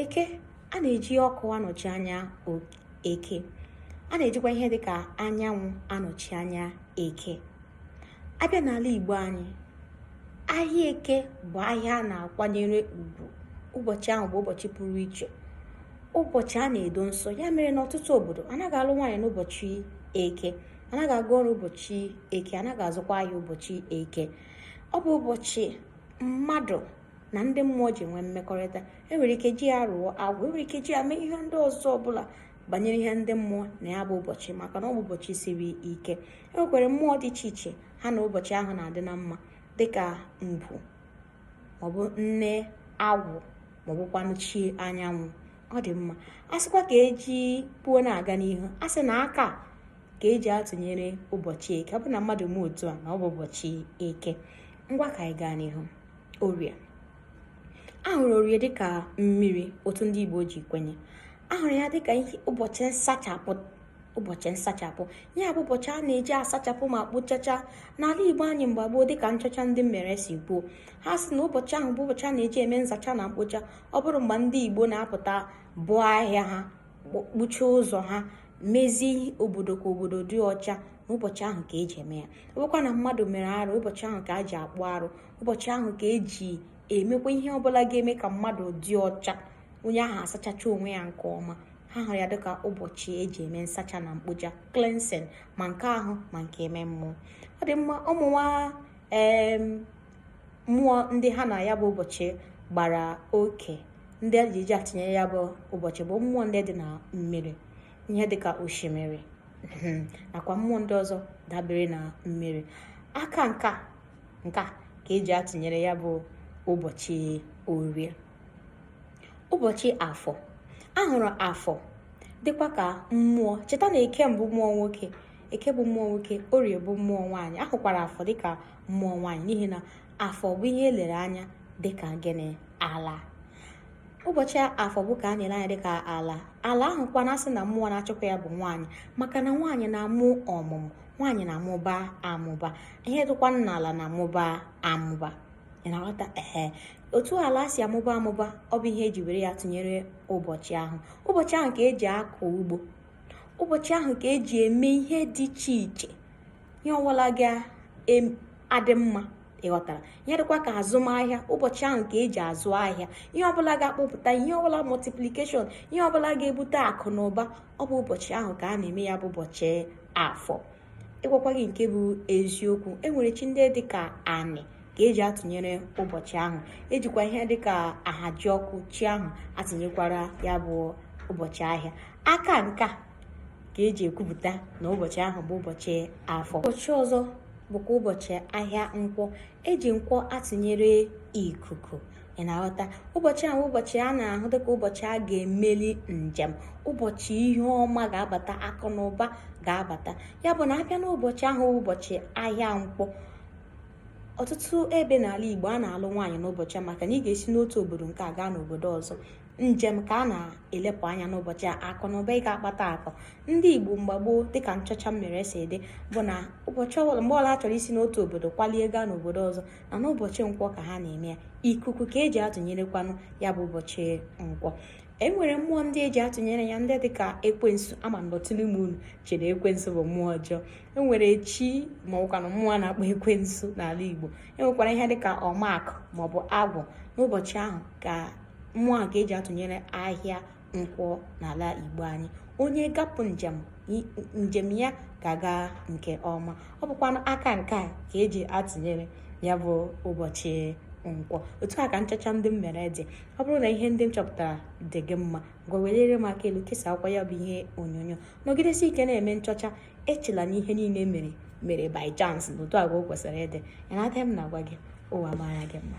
eke a na-eji ọkụ anọchi anya eke a na-ejikwa ihe dị ka anyanwụ anọchi anya eke abịa n'ala igbo anyị ahịa eke bụ ahịa a na-akwanyere ugwu ụbọchị ahụ bụ ụbọchị pụrụ iche ụbọchị a na-edo nsọ ya mere n'ọtụtụ obodo anaghị alụ nwaanyị n'ụbọchị eke anaghị aga ọrụ ụbọchị eke anaghị azụkwa ahịa ụbọchị eke ọ bụ ụbọchị mmadụ na ndị mmụọ ji nwee mmekọrịta enwere ike ji ya rụọ agwụ enwere ike ji ya mee ihe ndị ọzọ ọbụla banyere ihe ndị mmụọ na ya bụ ụbọchị maka na ọ bụ ụbọchị siri ike enwekwara mmụọ dị iche iche ha na ụbọchị ahụ na-adị na mma dịka ngwu maọbụ nne agwụ maọbụkwanụ chi anyanwụ ọ dị mma a sịkwa ka eji kwuo na-aga n'ihu a sị na aka ka eji atụnyere ụbọchị eke ọ bụ na mmadụ mee otu a na ọ bụ ụbọchị eke ngwa ka anyị gaa n'ihu orie a hụrụ orie dịka mmiri otu ndị Igbo ji kwenye a hụrụ ya dịka ụbọchị nsachapụ ụbọchị nsachapụ ya bụ ụbọchị a na-eji asachapụ ma kpochacha n'ala igbo anyị mgbe gboo dịka nchọcha ndị m mere si kwuo ha sị na ụbọchị ahụ bụ ụbọchị a na-eji eme nsacha na mkpocha ọ bụrụ mgbe ndị igbo na-apụta bụọ ahịa ha kpuchie ụzọ ha mezie obodo ka obodo dị ọcha n'ụbọchị ahụ ka eji eme ya ọbụkwa na mmadụ mere arụ ụbọchị ahụ ka a ji akpụ arụ ụbọchị ahụ ka eji emekwa ihe ọbụla ga-eme ka mmadụ dị ọcha onye ahụ asachacha onwe ya nke ọma ha hụrụ ya dịka ụbọchị eji eme nsacha na mkpocha cleansing ma nke ahụ ma nke ime mmụọ ọ dị mma ụmụ nwa mmụọ ndị ha na ya bụ ụbọchị gbara oke ndị a ji atụnyere ya bụ ụbọchị bụ mmụọ ndị dị na mmiri ihe dịka osimiri hmm, nakwa mmụọ ndị ọzọ dabere na mmiri aka nka ka eji atụnyere ya bụ ụbọchị orie ụbọchị afọ ahụrụ afọ dịkwa ka mmụọ cheta na eke bụ mmụọ nwoke eke bụ mmụọ nwoke orie bụ mmụọ nwaanyị ahụkwara afọ dịka mmụọ nwaanyị n'ihi na afọ bụ ihe elere anya dịka gịnị ala ụbọchị afọ bụ ka a na-ele anya dịka ala ala ahụ kwa na asị na mmụọ na-achịkwa ya bụ nwaanyị maka na nwaanyị na-amụ ọmụmụ nwaanyị na-amụba amụba ihe dịkwa n'ala na-amụba amụba ị na-aghọta ehe otu ala si amụba amụba ọ bụ ihe eji were ya tụnyere ụbọchị ahụ ụbọchị ahụ ka eji akọ ugbo ụbọchị ahụ ka eji eme ihe dị iche iche ihe ọbụla ga-adị mma ịghọtara ihe dịkwa ka azụmahịa ụbọchị ahụ ka eji azụ ahịa ihe ọbụla ga-akpụpụta ihe ọbụla multiplication ihe ọbụla ga-ebute akụ na ụba ọ bụ ụbọchị ahụ ka a na-eme ya bụ ụbọchị afọ ịgwakwa gị nke bụ eziokwu enwere chi ndị dị ka anị ka eji atụnyere ụbọchị ahụ ejikwa ihe dị ka Ahajiọkụ chi ahụ atụnyekwara ya bụ ụbọchị ahịa aka nka ka eji ekwupụta na ụbọchị ahụ bụ ụbọchị afọ ụbọchị ọzọ bụkwa ụbọchị ahịa nkwọ eji nkwọ atụnyere ikuku ị na-aghọta ụbọchị ahụ ụbọchị a na-ahụ dịka ụbọchị a ga-emeli njem ụbọchị ihe ọma ga-abata akụ na ụba ga-abata ya bụ na abịa n'ụbọchị ahụ ụbọchị ahịa nkwọ ọtụtụ ebe n'ala Igbo a na-alụ nwaanyị n'ụbọchị a maka na ị ga-esi n'otu obodo nke a gaa n'obodo ọzọ njem ka a na-elepụ anya n'ụbọchị a akụ na ụba ị ga-akpata akụ ndị igbo mgbe gboo dịka nchọcha m mere si dị bụ na ụbọchị ọbụla mgbe ọbụla ha chọrọ isi n'otu obodo kwalie gaa n'obodo ọzọ na n'ụbọchị nkwọ ka ha na-eme ya ikuku ka eji atụnyerekwanụ ya bụ ụbọchị nkwọ enwere mmụọ ndị eji atụnyere ya ndị dịka ekwensu ama m na ọtụtụ n'ime unu chere ekwensu bụ mmụọ ọjọọ enwere chi ma ọbụkwanụ mmụọ a na-akpọ ekwensu n'ala igbo enwekwara ihe dịka ọmakụ maọbụ agwụ n'ụbọchị ahụ ka mmụọ a ka eji atụnyere ahịa nkwọ n'ala igbo anyị onye gapụ njem njem ya ga-aga nke ọma ọ bụkwa aka nke a ka eji atụnyere ya bụ ụbọchị nkwọ otu a ka nchọcha ndị m mere dị ọ bụrụ na ihe ndị m chọpụtara dị gị mma ngwa weliere m aka elu kesaakwa ya bụ ihe onyonyo nọgidesi ike na-eme nchọcha echela na ihe niile mere mere by chance na otu a ka o kwesịrị ịdị ya na m na-agwa gị ụwa mara gị mma